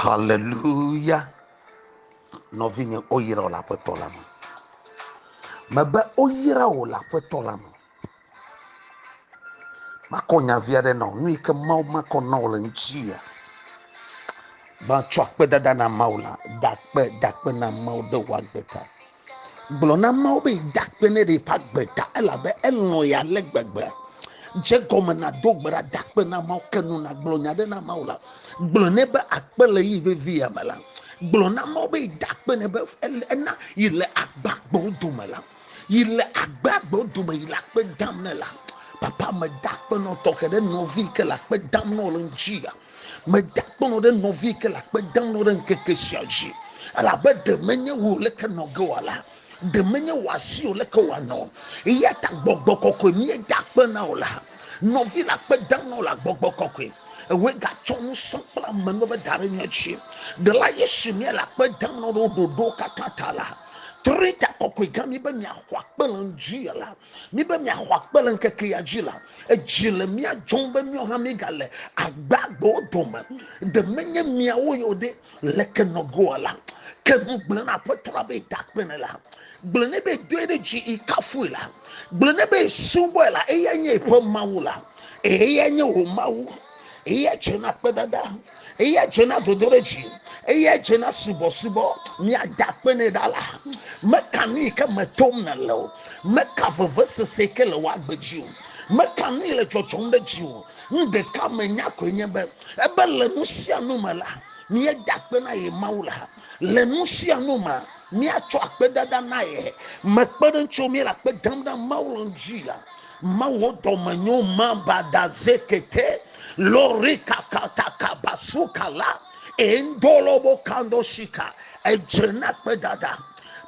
Haleluya! Nɔvinye, woyra wò le Aƒetɔ la me. Mebe woyra wò le Aƒetɔ la me. Makɔ nyavi aɖe na wò, nu yi ke Mawu makɔ na wò le ŋutia. Matsɔ akpedada na Mawu la, da akpe, da akpe na Mawu ɖe wò agbe ta. Gblɔ na Mawu be da akpe ne ɖe eƒe agbe ta, elabe elɔ̃ ya ale gbegbe. Dze gɔme na do gbe ɖa, da akpe na Mawu, ke nu na gblɔ nya ɖe na Mawu la. Gblɔ nɛ be akpe le yi vevi ya me la. Gblɔ na Mawu be da akpe ne be ena yi le agbagbewo dome la. Yi le agbagbewo dome yi le akpe dam ne la. Papa me da akpe nɔ tɔxe ɖe nɔvi ke le akpe dam nɔ le ŋuti ya. Meda akpɔnɔ ɖe nɔvi yi ke le akpe dam nɔ ɖe ŋkeke sia dzi, elabe ɖe menye wò le ke nɔ ge wòa la, ɖe menye wò asi o le ke wòa nɔ. Eya ta gbɔgbɔ kɔkɔe mie da akpe na wò la. Nɔvi le akpe dam nɔ le agbɔgbɔ kɔkɔe. Ewe gatsɔ nu sɔ kple ame nɔ be da ɖe mia dzi. Ɖe la Yesu mie le akpe dam nɔ ɖe wò ɖoɖo katã ta la. Trita kɔkɔe gã mi be mia xɔ akpe le ŋdzi ya la. Mi be miaxɔ akpe le ŋkeke ya dzi la, edzi le mía dzɔm be míawo hã míegale agbagbewo dome. Ɖe menye miawo yewo ɖe le ke nɔgoa la, ke nu gblẽ na aƒetɔ la be da akpe ne la. Gblẽ ne be dɔe ɖe dzi yi kafui la. Gblẽ ne be subɔe la, eya nye eƒe Mawu la. Eya nye wò Mawu. eya dze na kpedada eya dze na dodoɖedzi eya dze na subɔsubɔ miada akpe nɛ ɖa la meka nu yi ke me tom nèle o meka vevesese ke le woagbe dzi o meka nu yi le dzɔdzɔm ɖe dzi o nu ɖeka menya koe nye be ebe le nu sia nu me la míeda akpe na ye mawu la le nu sia nu me míatsɔ akpedada na ye mekpe ɖe ŋutsu míele akpe dam ɖe mawu le ŋdzi la Mawo dɔmenyo mamba da zekete lori kakata kabasu kala endolobo kando shika edzena kpe dada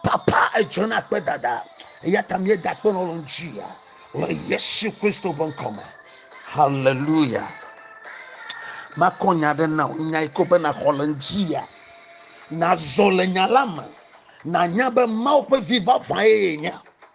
papa edzena kpe dada yata mi da kpe lolo njia le Yesu Kristo be ŋkɔ me hallelujah makɔ nya ɖe na nya yi ko be na xɔ le njia na zɔ le nya la me na nya be mawo ƒe vi vavã ye nya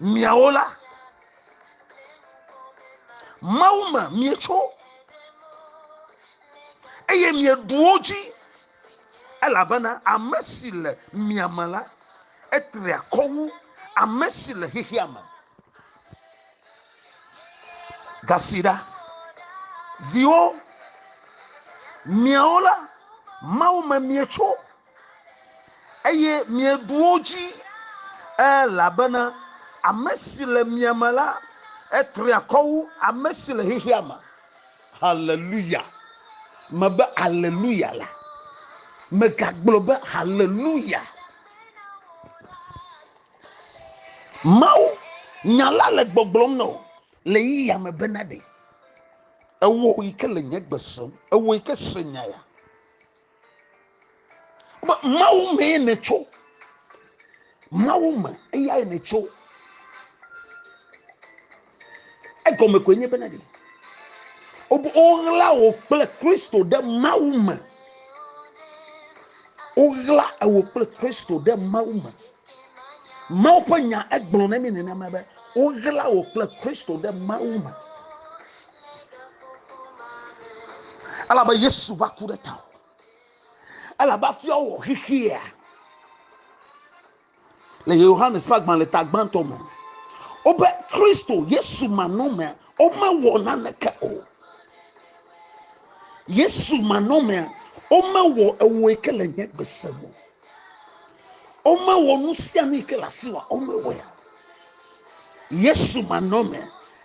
miawo la mawu me mietso eye mieɖuwo dzi elabena ame si le mia me la etri akɔ wu ame si le xexea me gasi ɖa viwo miawo la mawu me mietso eye mieɖu wo dzi elabena ame si le mia me la etri akɔ wu ame si le xexea me haleluya mebe haleluya la megagblɔ be haleluya mawu nya la le gbɔgblɔm nɔ le yi ya me bena ɖe ewɔ yi ke le nye gbe sem ewɔ yi ke se nya ya mawu mee nètso mawu me eyae nètso egɔme koe nye bena ɖi woɣla wò kple kristo ɖe mawu me woɣla ewò kple kristo ɖe mawu me Mawu ƒe nya egblɔ na mi nenema be woɣla wò kple Kristo ɖe Mawu me. Elabe Yesu va ku ɖe tawò. Elabe afia wɔ xexea. Le Yohanes ƒe agbalẽ ta gbãtɔ me, wobe Kristo Yesu manɔmea, womewɔ naneke o. Yesu manɔmea, womewɔ ewoe ke le nye gbese me o. Womewɔ nu sia nu yi ke le asi wa womewɔ ya. Yesu manɔme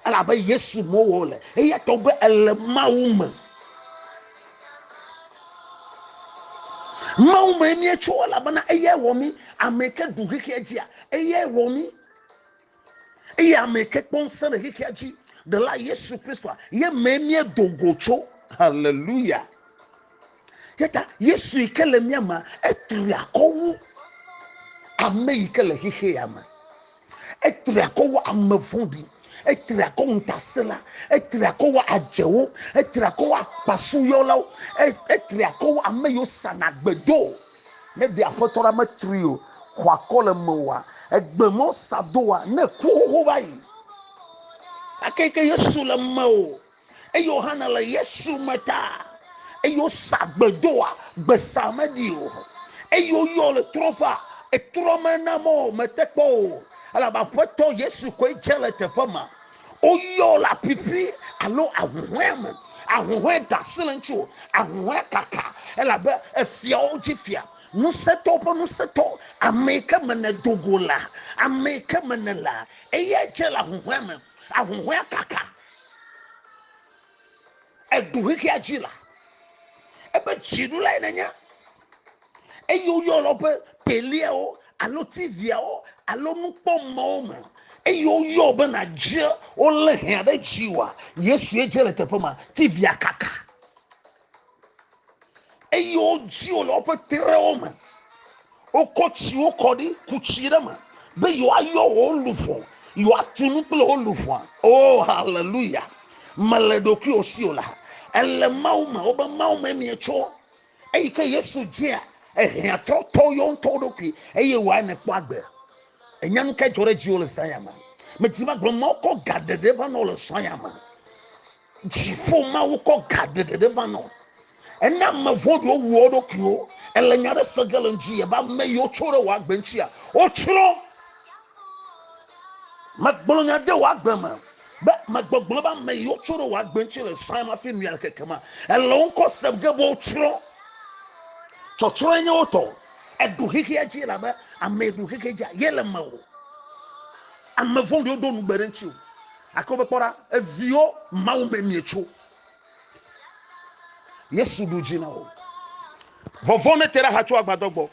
elabe Yesu mowɔ le eya tɔ be ele Mawu me. Mawu me míetso elabena eyae wɔ mí ame ke ɖu xexea dzia eyae wɔ mí. Eya me ke kpɔ ŋusẽ le xexea dzi ɖela Yesu Kristoa ye mee míedo go tso. Haleluya! Yeta Yesu yi ke le mía mea, etri akɔ wu ame yi ke le xexea me. Etri akɔ wu ame vɔ̃ɖi. Etri akɔ ŋutasẽla. Etri akɔ wu adzewo. Etri akɔ wu akpasuyɔlawo. Etri akɔ wu ame yiwo sana gbedo. Ne ɖe Aƒetɔ la metri o, xɔa kɔ le mewòa, egbe mɔ sa doa, ne ku xoxo va yi. Ake ke Yesu le mewò, eye wòhana le Yesu me ta, eye wosa gbe doa, gbe sa meɖi o, eye woyɔ le trɔƒea, etrɔ mena mɔ metekpɔ o, elabe Aƒetɔ Yesu koe dze le teƒe ma, woyɔ le apipi alo ahuhɔe me ahuhɔe da asi le ŋuti o ahuhɔe kaka elabe efiawo dzi fia ŋusẽtɔ ƒe ŋusẽtɔ ame yi ke me nèdo go la ame yi ke me nèlea eya dze le ahuhɔe me ahuhɔe kaka edu xexea dzi la ebe dzinu lae nenye eye woyɔna woƒe teliawo alo tiviawo alo nukpɔmɔwo me eye woyɔ be nadze wolé hea ɖe dzi wa yesue dze le teƒe ma tivia kaka eye wodzi wo le woƒe trewo me wokɔ tsiwo kɔ ɖi ku tsi ɖe me be yewoayɔ wo luʋɔ yewoatu nu kple wo luʋɔa o oh, haleluya mele ɖokuiwo si o la ele mawu me wobe mawu me mietso Eyi ke Yesu dzia ehiãtɔtɔ yɔ ŋutɔ ɖokui eye wòae ne kpɔ agbe. Ènya nu kae dzɔ ɖe dziwò le zã ya me? Medi be agblɔ Mawu kɔ ga ɖeɖe va nɔ le zã ya me. Dziƒo Mawu kɔ ga ɖeɖe va nɔ. Ena ame vɔ̃ɖiwo wu wo ɖokuiwo. Ele nya ɖe se ge le ŋdi yebe ame yiwo tso ɖe wò agbe ŋutia, wotsrɔ̃. Megblɔ nya de wò agbe me be megbɔgblɔ be ame yi wotsɔ ɖe wò agbe ŋuti le srɔ̃ ma fi nuyana keke ma. Ele wo ŋkɔ sem ge be wotsrɔ̃. Tsɔtsrɔ̃e nye wotɔ. Eɖu xexea dzi elabe ame yi ɖu xexea dzi ye le me o. Ame vɔ̃ɖiwo ɖo nugbe ɖe ŋuti o. Ake wobe kpɔ ɖa, eviwo Mawu me mietso. Yesu ɖu dzi na wo. Vɔvɔ̃ ne te ɖe axa tso agbadɔ gbɔ.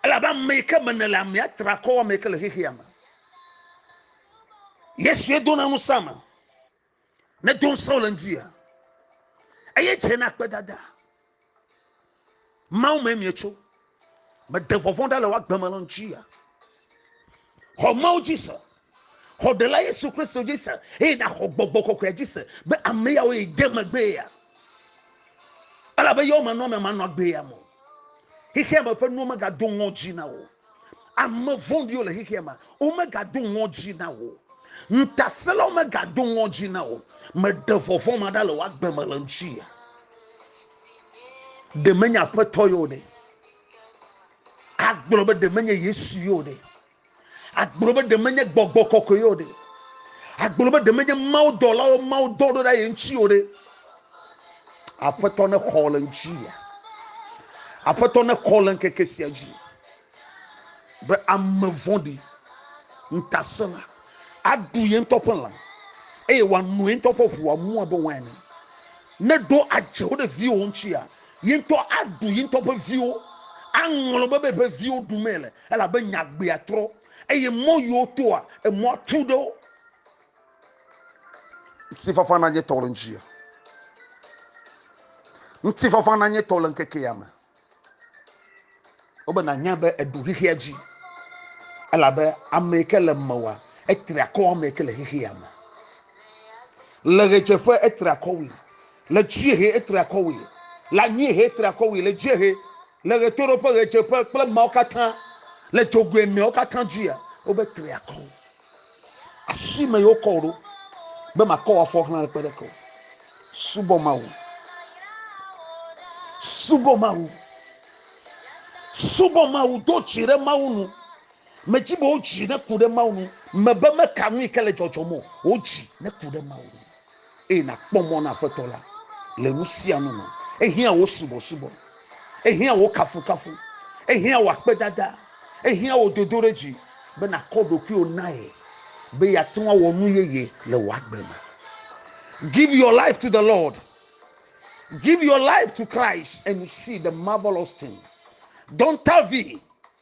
Elabe ame yi ke me nèle amea tra kɔ ame yi ke le xexea me. Yesue dona ŋusẽ ame. Ne do ŋusẽ wole ŋutia, eye dze na kpedada. Mawu me mietso. Meɖe vɔvɔ̃ ɖa le woagbe me le ŋutia. xɔ mawo dzi se xɔ ɖela yesu kristo dzi se eye nàxɔ gbɔgbɔ kɔkɔea dzi se be ame yawo yi de megbee ya elabe yewo menɔ ame manɔ agbee ya mo xexea me ƒe nuwo megado ŋɔdzi na wo ame vɔ̃ɖiwo le xexea me womegado ŋɔdzi na wo ŋutasẽlawo megado ŋɔdzi na wo meɖe vɔvɔ̃ ma ɖa le woagbe me le ŋuti ya ɖe menye aƒetɔ yewo ɖe Agblɔ be ɖe menye Yesu yeo ɖe. Agblɔ be ɖe menye gbɔgbɔ kɔkɔe yeo ɖe. Agblɔ be ɖe menye Mawu dɔlawo Mawu dɔ ɖo ɖe ye ŋuti yeo ɖe. Aƒetɔ ne xɔ le ŋuti ya. Aƒetɔ ne xɔ le ŋkeke sia dzi. Be ame vɔɖi ŋutasẽla aɖu ye ŋutɔ ƒe lã eye wòano ye ŋutɔ ƒe ʋua mua be wain. Ne ɖo adze wo ɖe viwò ŋuti ya. Ye ŋutɔ aɖu ye ŋutɔ ƒe viwo, aŋlɔ be be ƒe viwo ɖu mee le, elabe nye agbea trɔ, eye mɔ yi wotoa, emɔa tu ɖe wo. Ŋutifafa nanye tɔ le ŋutinye, ŋutifafa nanye tɔ le ŋkeke ya me. Wo be nànya be èɖu xexea dzi, elabe ame yi ke le mewòa, etri akɔ ame yi ke le xexea me. Le ɣedzeƒe etri akɔ wui, Le dziehe, etri akɔwui. Le anyiehe, etri akɔwui. Le dziehe, le ɣetoɖoƒe, ɣedzeƒe kple emawo katã, le dzogoe eneawo katã dzia, wobe tri akɔ wo. Afi me yewokɔ wò ɖo be makɔ wò afɔ xlã ɖekpe ɖeke o. Subɔ Mawu. Subɔ Mawu. Subɔ Mawu. Do dzi ɖe Mawu nu. Medzi be wò dzi neku ɖe Mawu nu. Mebe meka nui ke le dzɔdzɔm o. Wò dzi neku ɖe Mawu nu. eye nàkpɔ mɔ na Aƒetɔ la le nu sia nu me. Ehiã wò subɔsubɔ, ehiã wò kafukafu, ehiã wò akpedada, ehiã wò dodoɖedzi be nàkɔ ɖokuiwò na ye be yeate ŋu awɔ nu yeye le wò agbe me. Give your life to the Lord. Give your life to Christ and you see the marvelous thing. Don't Tavi,